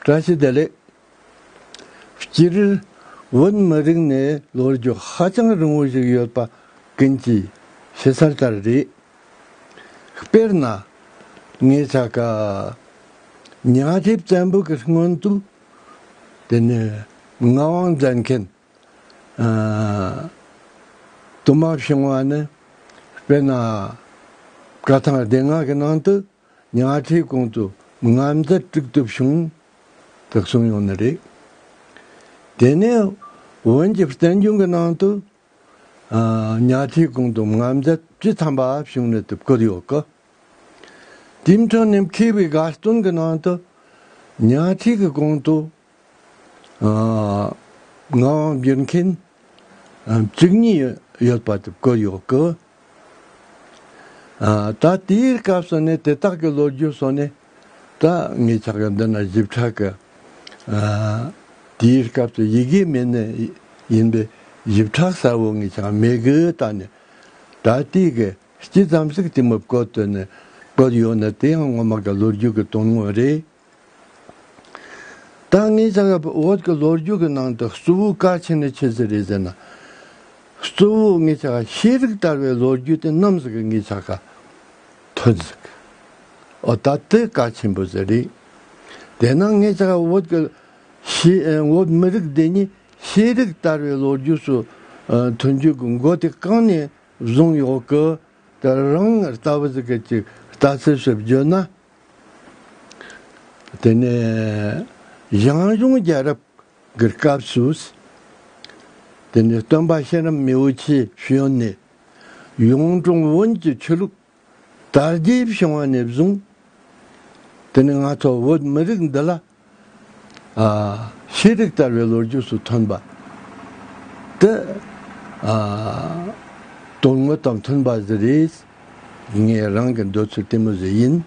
བཀྲ་ཤིས་བདེ་ལེགས། སྤྱིར་བོད་མི་རིགས་ནི་ལོ་རྒྱུས་ཧ་ཅང་རིང་བོ་ཞིག་ཡོད་པ་ཀུན་གྱིས་ཤེས་ཚར་ལྟར་རེད། དཔེར་ན། ངེད་ཅག་གི་གཉའ་ཁྲི་བཙན་པོ་གི་སྔོན་དུ། དེ་ནས་མངའ་དབང་མཛད་མཁན། དུ་མ་བྱུང་བ་ནི་དཔེར་ན། བཀའ་ཐང་སྡེ་ལྔ་གི་ནང་དུ། མྱ་ཁྲའི་གོང་དུ་ང་མཛའ་དཀྲུགས་ཐུབ་བྱུང་དག་གསུངས་ཡོང་ནི་རེད། དེ་ནས་བོན་གྱི་བསྟན་རྒྱུན་གྱི་ནང་དུ། མྱ་ཁྲའི་གོང་དུ་ང་མཛའ་ཅི་འཚམས་པ་བྱུང་ནི་དུ་བཀོད་ཡོད་ཀི། དེའི་མཐུན་ནས་མཁས་པའི་དགའ་སྟོན་གྱི་ནང་དུ། མྱ་ཁྲའི་གི་གོང་དུ་ངག་དབྱངས་བསྒྱུར་མཁན་བཅུ་གཉིས་ཡོད་པ་དེ་བཀོད་ཡོད་ཀི། ད་དེའི་སྐབས་སུ་ནི་དེ་དག་གི་ལོ་རྒྱུས་སོགས་ནི་ད་ངས་ཆ་ཤས་འདི་ན་ཞིབ་ཕྲ་གི། དེའི་སྐབས་སུ་ཡི་གེ་མེད་ནི་ཡིན་པས་ཞིབ་ཕྲ་གསལ་བོ་ངས་ཆ་མེད་གི་ད་ནི་ད་ལྟའི་གི་སྤྱི་ཙམ་ཞིག་དེ་མུར་བཀོད་དོན་ནི་བཀོད་ཡོད་ནི་དེ་ཡང་ངོ་མ་གི་ལོ་རྒྱུས་གི་དོན་དངོས་རེད། ད་ངས་ཅག་ག་བོད་ཀྱི་ལོ་རྒྱུས་ཀྱི་ནང་དུ་གཙོ་བོའི་བཀའ་ཆེན་ནི་ཁྱེད་ཚོ་རེད་ཟེར་ན། གཙོ་བོ་ངས་ཅག་ག་ཤེས་རིག་དར་བའི་ལོ་རྒྱུས་དེ་ནམ་ཟིག་ངས་ཅག་ག་ཐོས་ཟིག། ཨོ་ད་དེ་བཀའ་ཆེན་པོ་ཟེར་རེད། དེས་ན་ངས་ཅག་ག་བོད་ཀྱི་བོད་མི་རིགས་འདི་ཉིད་ཤེས་རིག་དར་བའི་ལོ་རྒྱུས་སུ་ཐོན་རྒྱུ་གི་མགོ་དེ་གང་ནས་བཟུང་ཡོད་ཀི། རང་ལྟ་བུ་ཟིག་གིས་ཅིག་ལྟ་ཚུལ་ཞིག་བརྗོད་ན་དེ་ནས་ཞང་ཞུང་རྒྱལ་རབས་ཀྱི་སྐབས་སུ། དེ་ནས་སྟོན་པ་གཤེན་རབ་མི་བོ་ཆེའི་བཞོན་ནས། གཡུང་དྲུང་བོན་གྱི་ཆོས་ལུགས་དར་རྒྱས་བྱུང་བ་ནས་བཟུང། དེ་ནས་ང་ཚོ་བོད་མི་རིགས་འདི་ལ། ཤེས་རིག་དར་བའི་ལོ་རྒྱུས་སུ་ཐོན་པ། དེ་དོན་དངོས་དང་མཐུན་པ་ཞིག་རེད། ངས་རང་གི་འདོད་ཚུལ་ལྟད་མོ་ཞིག་ཡིན།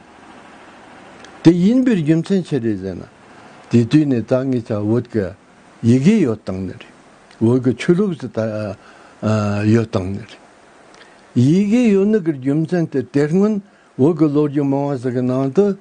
དེ་ཡིན་པའི་རྒྱུ་མཚན་ཅི་རེད་ཟེར་ན། དེ་དུས་ནས་ད་ངས་ཆ་བོད་ཀྱི་ཡི་གེ་ཡོད་སྟངས་ནི་རེད། བོད་ཀྱི་ཆོས་ལུགས་སུ་ཡོད་སྟངས་ནི་རེད། ཡི་གེ་ཡོད་ནི་གི་རྒྱུ་མཚན་དེ་དེ་སྔོན་བོད་ཀྱི་ལོ་རྒྱུས་མང་བ་ཞིག་གི་ནང་དུ།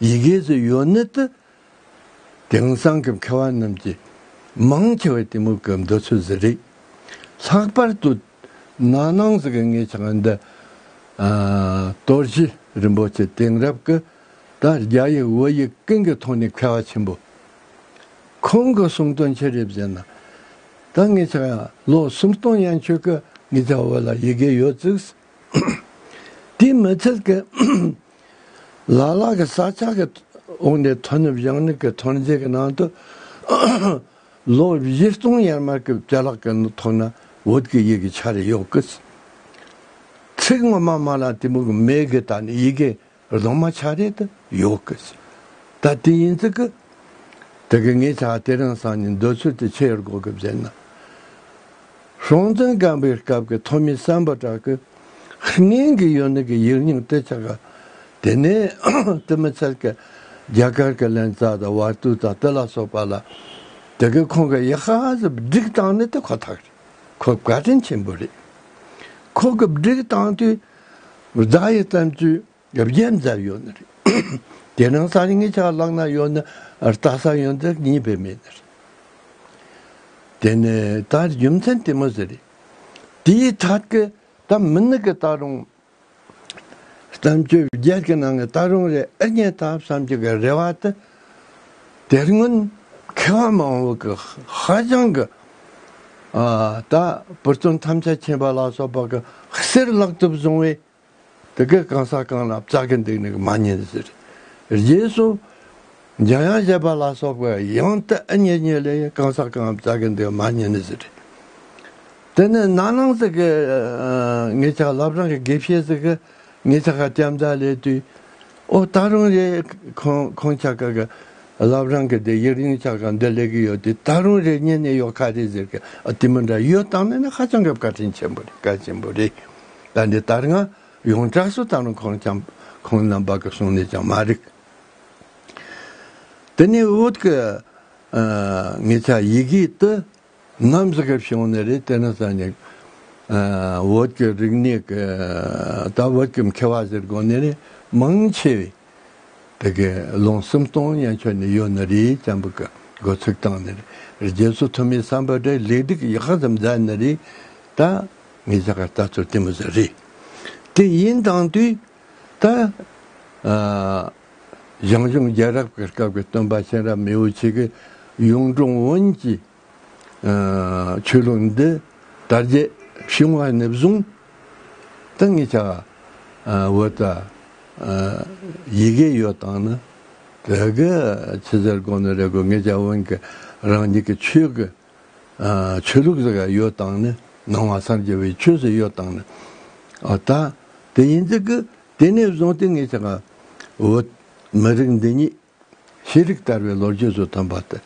ཡི་གེའི་ཚོ་ཡོད་གནད་དུ། དེང་སང་གི་མཁས་བ་རྣམས་ཀྱིས། མང་ཆེ་བས་གཏི་མུག་གི་འདོད་ཚུལ་ཟེར་རིགས། ལྷག་པར་དུ། ན་སྣང་གཟུགས་ཀྱི་ངེས་ཆགས་འདི། གཏོར་གཞི་རིན་པོ་ཆེ་དེང་རབས་ཀྱི། ད་རྒྱ་ཡིག་འུ་ཡིག་ཀུན་གྱི་ཐོག་ནས་མཁས་བ་ཆེན་པོ། ཁོང་གི་གསུང་དོན་ཆེ་རེ་བཞེས་ན། ད་ངེད་ཅག་ཡང་ལོ་སུམ་སྟོང་ཡན་ཆོད་ཀྱི་ངེད་ཅག་བོད་ལ་ཡི་གེ་ཡོད་བརྩིགས། དེའི་མི་ཚད་ཀྱི། ལ་ལ་གི་ས་ཆ་གི་འོག་ནས་མཐོ་སྙོམས་གཞང་ནུབ་ཀྱི་ཐོན་རྫས་ཀྱི་ནང་དུ་ལོ་བཞི་སྟོང་ཡར་མར་གྱི་བྱ་གླག་གི་ཐོག་ན་འོད་ཀྱི་ཡི་གེ་ཆ་རེ་ཡོད་སྐད། ཚིག་ངོ་མ་མ་ལ་གཏི་མུག་མེད་གི་ད་ནི་ཡི་གེ་རྫོང་མ་ཆ་རེ་དུ་ཡོད་སྐད། ད་དེ་ཡིན་ཚུལ་གྱི། དེ་གི་ངེད་ཅག་དེ་རིང་སང་ཉིན་འདོད་ཚུལ་དེ་ཕྱི་ཡར་སྒོ་གི་བརྒྱད་ན། རང་བཙན་རྐང་པའི་སྐབས་ཀྱི་ཐོག་མའི་བསམ་པ་དག་གི་ངན་གྱི་ཡོན་ཏན་གྱི་ཡིག་རྙིང་སྟེ་ཆ་ག་དེ་ནས་བསྟི་མི་འཚལ་ཀྱི། རྒྱ་གར་གྱི་ལན་ཙཱ་དང་བར་དུ་དང་ཏི་ལ་སོགས་པ་ལ་དེ་གའི་ཁོང་གི་ཡིག་ཧ་གཟ་བསྒྲིགས་སྟངས་ནི་དེ་ཁོ་ཐག་རེད། ཁོ་བཀའ་དྲིན་ཆེན་པོ་རེད། ཁོ་གི་བསྒྲིགས་སྟངས་དུས་བརྡ་ཡི་བརྩམས་ཚུལ་རྒྱབ་རྒྱལ་མཛའ་ཡོད་ན་རེད། དེ་ནང་སང་ཉིན་ངེད་ཅག་བརླག་ན་ཡོད་ན་རྟག་སང་ཡོད་ན་རེད་གཉིས་པའི་མེད་ན་རེད། དེ་ནས་ད་རྒྱུ་མཚན་དེ་མ་ཟེར། དེའི་མཐར་གི་ད་མི་ནི་གི་ད་རུང་གཏམ་རྒྱུད་རྒྱལ་གི་ནང་གི་ད་རུང་རེ་ཨེ་རྙེད་ད་བསམ་གྱི་གི་རེ་བ་དེ་དེར་སྔོན་མཁས་བ་མང་བོ་གི་ཧ་ཅང་གི་ད་བུར་སྟོན་ཐམས་ཅད་མཁྱེན་པ་ལ་སོགས་པ་གི་གསེར་བརླག་ཐུབ་སོང་བས། དེ་གའི་གང་ཟག་གང་ལ་བཙག་གི་འདུག་ནི་མ་ཉེས་ཟེར། རྗེས་སུ། འཇམ་དབྱངས་བཞད་པ་ལ་སོགས་པས་ཡང་དེ་ཨེ་ཉེས་ཉེས་ལས་གང་ཟག་གང་བཙག་གི་འདུག་མ་ཉེས་ནི་ཟེར། དེ་ནས་ནགས་ནང་ཟེར་གི། ངེད་ཅག་ལབ་རང་གི་དགེ་བཤེས་ཟེར་གི། ངེད་ཅག་ག་སྐྱབས་མཛད་ལས་དུས། ཨོ་ད་རུང་རེ། ཁོང་ཅག་ག་གི། ལབ་རང་གི་དེ་ཡིག་རིང་ཅག་ག་འདི་ལས་གི་ཡོད་དུས་ད་རུང་རེ་རྙེད་ནི་ཡོད་ཁ་རེད་ཟེར་གི། དེ་མི་འདྲ་ཡོད་སྟངས་ནི་ཧ་ཅང་གི་བཀའ་དྲིན་ཆེན་པོ་རེད་བཀའ་ཆེན་པོ་རེད། ད་འདི་ལྟར་ང་ཡོངས་གྲགས་སུ་བལྟ་རུང་ཁོང་ཀྱང་ཁོང་རྣམ་པ་གི་གསུང་ནས་ཀྱང་མ་རིག། དེ་ནས་བོད་ཀྱི་ངེད་ཅག་ཡི་གེ་དུ་ནམ་ཟེར་གི་བྱུང་ནི་རེད་དེ་ནི་ས་ནི་བོད་ཀྱི་རིག་གནས་ཀྱི་དང་བོད་ཀྱི་མཁས་པ་ཟེར་དགོས་ནི་རེད་མང་ཆེ་བས་དེ་གའི་ལུང་སེམས་སྟོང་ཡན་ཆོད་ནི་ཡོད་ནི་རེད་ཅམ་བུ་གི་འགོ་ཚུགས་སྟངས་ནི་རེད་རྗེས་སུ་ཐུ་མིའི་བསམ་པ་དེ་ལེགས་སྒྲིག་ཡག་ཙམ་མཛད་ནི་རེད་ད། ངས་ཀྱང་ད་ཚོད་བལྟས་མི་ཟེར། དེ་ཡིན་དང་དུས་ད་ཞང་ཞུང་རྒྱལ་རབས་ཀྱི་སྐབས་ཀྱི་སྟོན་པ་གཤེན་རབ་མི་བོ་ཆེ་གི་གཡུང་དྲུང་བོན་གྱི་ཆོས་ལུགས་འདི་དར་རྒྱས་བྱུང་བ་ནས་བཟུང་སྟེ་ངའི་བྱ་བའི་འོད་ལྟ་ཡི་གེ་ཡོད་དང་ནི་དེ་གི་ཆུ་ཟེར་དགོངས་ནས་རེ་དགོས་ངས་ཀྱང་བོན་གྱི་རང་ཉིད་ཀྱི་ཆོས་ཀྱི་ཆོས་ལུགས་ཟེར་ག་ཡོད་དང་ནི་ནང་བ་སར་རྒྱལ་བའི་ཆོས་ཟེར་ཡོད་དང་ནི་ད་དེ་ཡིན་ཙི་གི་དེ་ནས་བཟུང་སྟེ་ངས་ཆ་ག་འོད་མི་རིགས་འདི་ཉིད་ཤེས་རིག་དར་བའི་ལོ་རྒྱུས་སུ་ཐོན་པ་དེ་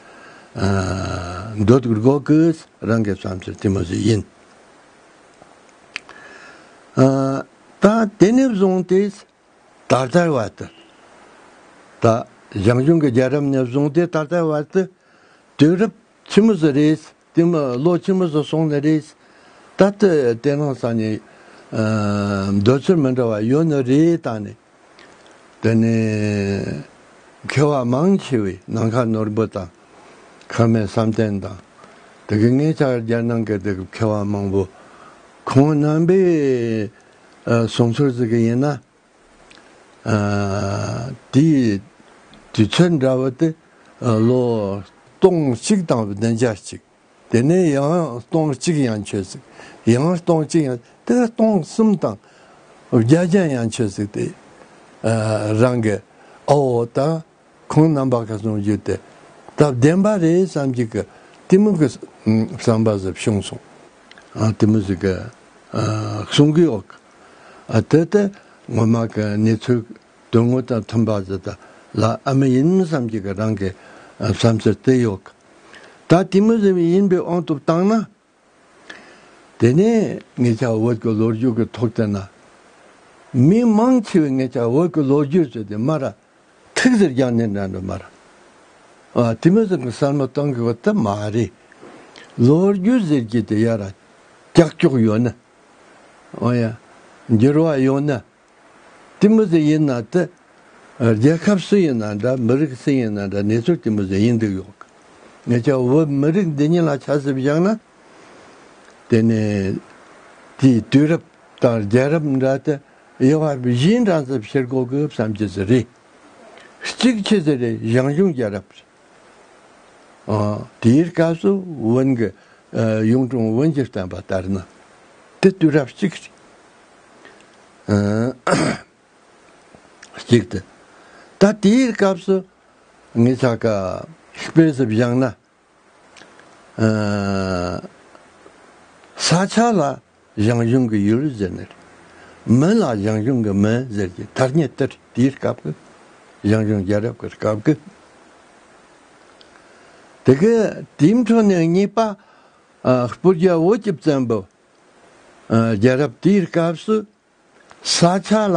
འདོད་དགོས་ཀི་རང་གི་བསམ་ཚུལ་དེ་མ་ཟིག་ཡིན། ད་དེ་ནས་བཟུང་སྟེ་ད་ལྟའི་བར་དུ། ད་ཞང་ཞུང་གི་རྒྱལ་རབས་ནས་བཟུང་སྟེ་ད་ལྟའི་བར་དུ། དུས་རབས་ཕྱི་མ་སུ་རེད། དུས་ལོ་ཕྱི་མ་སུ་སོང་ནི་རེད། ད་ལྟ་དེ་སྣང་ས་ནས། འདོད་ཚུལ་མི་འདྲ་བ་ཡོད་ནི་རེད་ད་ནི། དེ་ནི། མཁས་བ་མང་ཆེ་བས་ནང་ཁ་ནོར་བུ་དང། ཁ་མེད་བསམ་གཏན་དང། དེ་གི་ངེད་ཅག་རྒྱལ་ནང་གི་དེ་གི་མཁས་བ་མང་བོ། ཁོང་རྣམ་པས། བཟུང་ཚུལ་བརྩི་གི་ཡིན་ན། དེ་ཡི་དུས་ཚོད་འདྲ་བ་སྟེ་ལོ་སྟོང་གཅིག་དང་བདུན་བརྒྱ་གཅིག། དེ་ནས་ཡང་སྟོང་གཅིག་ཡང་ཆོད་ཟིག། ཡང་སྟོང་གཅིག་ཡང། དེ་ལ་སྟོང་གསུམ་དང་བརྒྱ་བརྒྱ་ཡང་ཆོད་ཟིག་སྟེ། རང་གི་ཨོའོ་དང། ཁོང་རྣམ་པ་ག་ཚོད་རྒྱུ་དེ་སྟབས་བདེན་པ་རེད་བསམ་གྱི་གི་གཏི་མུག་གི་བསམ་པ་ཟིབ་ཤོང་སོང། གཏི་མུག་གི་གསུང་གི་འོག་གི་དེ་ལྟ་ངོ་མ་གི་གནས་ཚུལ་དོན་དངོས་དང་མཐུན་པ་ཟི་ད་ལ་ཨ་མི་ཡིན་བསམ་གྱི་གི་རང་གི་བསམ་ཚུལ་དེ་ཡོད་གི། ད་གཏི་མུག་ཟེར་བའི་ཡིན་པའི་ཨང་ཐོབ་བཏང་ན་དེ་ནས་ངེད་ཅག་བོད་ཀྱི་ལོ་རྒྱུས་ཀྱི་ཐོག་བལྟས་ན། མི་མང་ཆེ་བས་ངེད་ཅག་བོད་ཀྱི་ལོ་རྒྱུས་ཟེར་ཏེ་སྨྲ་ར། ཐུགས་ཟེར་རྒྱང་ནས་འདྲ་འདྲ་སྨྲ་ར། དེ་མིན་སང་གི་གསར་མ་གཏོང་དགོས་པ་དེ་མ་རེད། ལོ་རྒྱུས་ཟེར་གྱི་དེ་ཡར་ཀྱག་ཀྱོག་ཡོད་ན། འོ་ཡ། འགྱུར་བ་ཡོད་ན། ཏི་མོ་ཛེ་ཡིན་ན་ཏི། རྒྱལ་ཁབ་སུ་ཡིན་ན་འདྲ་མི་རིགས་སུ་ཡིན་ན་འདྲ་གནས་ཚུལ་ཏི་མོ་ཛེ་ཡིན་འདུག་ཡོད་ངེས་ཀྱི་འོ་མི་རིགས་འདི་གཉིས་ལ་ཆ་གཟིགས་བཞག་ན། དེ་ནི་དེའི་དུས་རབས་དང་རྒྱལ་རབས་འདྲ་སྟེ་དབྱེ་བ་བཞིའི་འགྲངས་ཚད་ཕྱིར་འགོག་དགོས་བསམ་གྱི་ཟི་རེད། གཅིག་ཕྱི་ཟི་རེ་ཞང་ཞུང་རྒྱལ་རབས་རེད། དེའི་སྐབས་སུ་དབོན་གྱི་གཡུང་དྲུང་དབོན་གྱིས་བསྟན་པ་ལྟར་ན་དེ་དུས་རབས་གཅིག་གཅིག་སྟེ། ད་དེའི་སྐབས་སུ་ངེད་ཅག་གི་དཔེ་གཟིགས་བཞག་ན། ས་ཆ་ལ་ཞང་ཞུང་གི་ཡུལ་ཟེར་ནི་རེད། མོན་ལ་ཞང་ཞུང་གི་མོན་ཟེར་གྱི་ཐ་སྙད་སྟེ་དེའི་སྐབས་ཀྱི་ཞང་ཞུང་རྒྱལ་རབས་ཀྱི་སྐབས་ཀྱི། དེ་གའི་དེའི་འཕྲོ་ནས་གཉིས་པ་སྤུ་རྒྱལ་བོ་ཀྱི་བཙན་པོ་རྒྱལ་རབས་དེའི་སྐབས་སུ་ས་ཆ་ལ་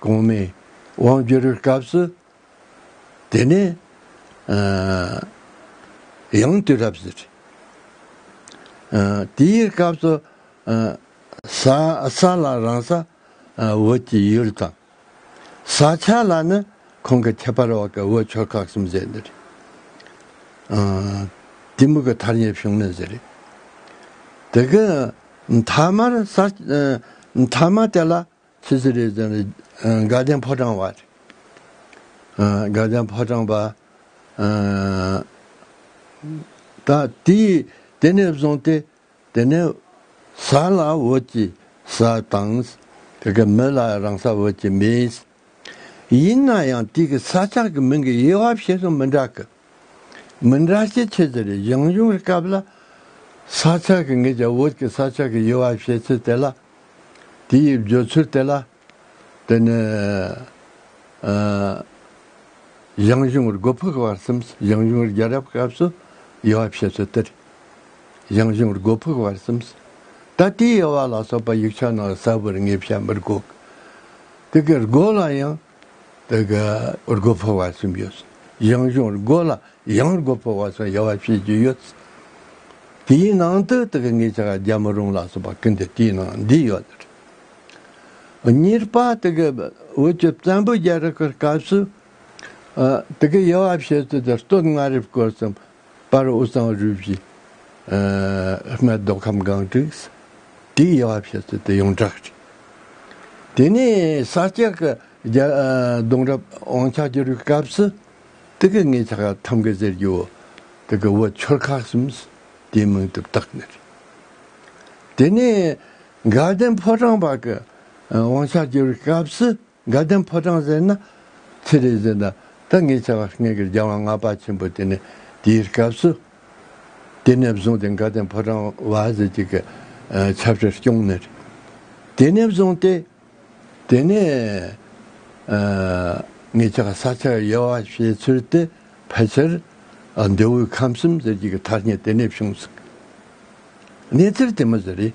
གོང་མའི་དབང་བསྒྱུར་སྐབས་སུ། དེ་ནས་ཡང་དུས་རབས་ཟེར། དེའི་སྐབས་སུ། ས་ལ་རང་ས་འོད་ཀྱི་ཡུལ་དང། ས་ཆ་ལ་ནི་གོང་གི་ཁྱད་པར་འོག་གི་འོད་ཆོས་ཁག་གསུམ་ཟེར་འདི་རེད། གཏི་མུག་གི་མཐར་ཉེར་ཕྱུང་ནི་ཟེར་རེད། དེ་གི་མཐའ་མར་མཐའ་མ་དེ་ལ། ཚེ་ཚེ་རེད་ཚེ་རེད་དགའ་ལྡན་ཕོ་བྲང་བ། དགའ་ལྡན་ཕོ་བྲང་བ། ད་དེ་དེ་ནས་བཟུང་སྟེ་དེ་ནས་ས་ལ་འོད་ཀྱི་ས་དང། དེ་གའི་མི་ལ་རང་ས་འོད་ཀྱི་མི། ཡིན་ན་ཡང་དེ་གའི་ས་ཆགས་ཀྱི་མིང་གི་དབྱེ་བ་བཤད་སྲོལ་མི་འདྲ་སྐད། མི་འདྲ་ཆེ་ཆེ་གྱི་རེད་ཡང་ཡང་བཀབ་ལ། ས་ཆག་གི་ངེད་ཀྱི་བོད་ཀྱི་ས་ཆག་གི་དབྱེ་བ་བྱེད་ཚུལ་དེ་ལ། དེའི་བརྗོད་ཚུལ་དེ་ལ། དེ་ནི། ཡང་ཡང་བར་སྒོ་ཕུག་བར་གསུམས་ཡང་ཡང་རྒྱལ་རབས་སྐབས་སུ་དབྱེ་བ་བྱེད་ཚུལ་དེ་རེད། ཡང་ཡང་བར་སྒོ་ཕུག་བར་གསུམས། ད་ལྟའི་དབྱེ་བ་ལ་སོགས་པ་ཡིག་ཆ་ནང་གསལ་བོར་ངེས་བཤད་མི་དགོས། དེ་གའི་སྒོ་ལ་ཡང། དེ་ག་རྒོད་ཕོ་བ་གསུམ་ཡོད། གཡང་གཞོང་རྒོད་ལ་གཡང་རྒོད་ཕོ་བ་སོགས་དབྱེ་བ་ཕྱེད་ཅིག་ཡོད། དེའི་ནང་དུ་དེ་ག་ངེད་ཅག་རྒྱལ་མོ་རོང་ལ་སོགས་པ་ཀུན་དུ་དེའི་ནང་འདི་ཡོད། གཉིས་པ་དེ་ག་བོད་ཀྱི་བཙན་པོའི་རྒྱལ་རབས་ཀྱི་སྐབས་སུ། དེ་གའི་དབྱེ་བ་ཕྱེད་ཚུལ་དེ་སྟོད་མངའ་རིས་སྐོར་གསུམ་པར་དབུ་གཙང་རུས་བཞི། སྨད་མདོ་ཁམས་སྒང་དྲུག། དེའི་དབྱེ་བ་ཕྱེ་ཚུལ་དེ་ཡོངས་གྲགས་རེད། དེ་ནས་ས་སྐྱ་ཀྱི་གདུང་རབས་དབང་ཆ་བསྒྱུར་བའི་སྐབས་སུ། དེ་གའི་ངེད་ཆགས་ཁག་ཐམ་ག་ཟེར་རྒྱུ། དེ་གའི་བུ་ཆོལ་ཁ་གསུམ་དེའི་མིང་དུ་བཏགས་ནི་རེད། དེ་ནས་དགའ་ལྡན་ཕོ་བྲང་བར་གྱི་དབང་ཆ་བསྒྱུར་བའི་སྐབས་སུ། དགའ་ལྡན་ཕོ་བྲང་ཟེར་ན་ཚེ་རིང་ཟེར་ན་ད་ངས་བྱ་བ་ངན་གིར་སྦྱང་བ་ང་པ་ཆེན་པོ་དེ་ནས་དེའི་སྐབས་སུ་དེ་ནས་བཟུང་སྟེ་དགའ་ལྡན་ཕོ་བྲང་བ་ཟེར་གྱི་གི་ཆབ་སྲིད་སྐྱོང་ནས་དེ་ནས་བཟུང་སྟེ་དེ་ནས་ངས་བྱ་བ་ས་ཆ་དབྱེ་བ་བྱེད་ཚུལ་དེ་ཕལ་ཆེར་མདོས་དབུས་ཁམས་གསུམ་ཟེར་གྱི་གི་མཐར་ཉེ་དེ་ནས་བྱུང་ཟིག་གནས་ཚུལ་དེ་མི་ཟེར་རེད།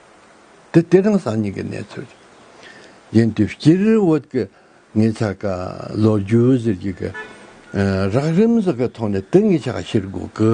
དེ་སྟེ་རང་སངས་ཉིད་ཀྱི་གནས་ཚོལ་ཅིག། ཡིན་དུས་སྤྱིར་བོད་ཀྱི་ངེད་ཅག་གི་ལོ་རྒྱུས་ཟེར་རྒྱུ་གི་རགས་རིམ་སོགས་ཀྱི་ཐོག་ནས་དེ་ངེད་ཅག་གིས་ཤེས་དགོས་ཀི།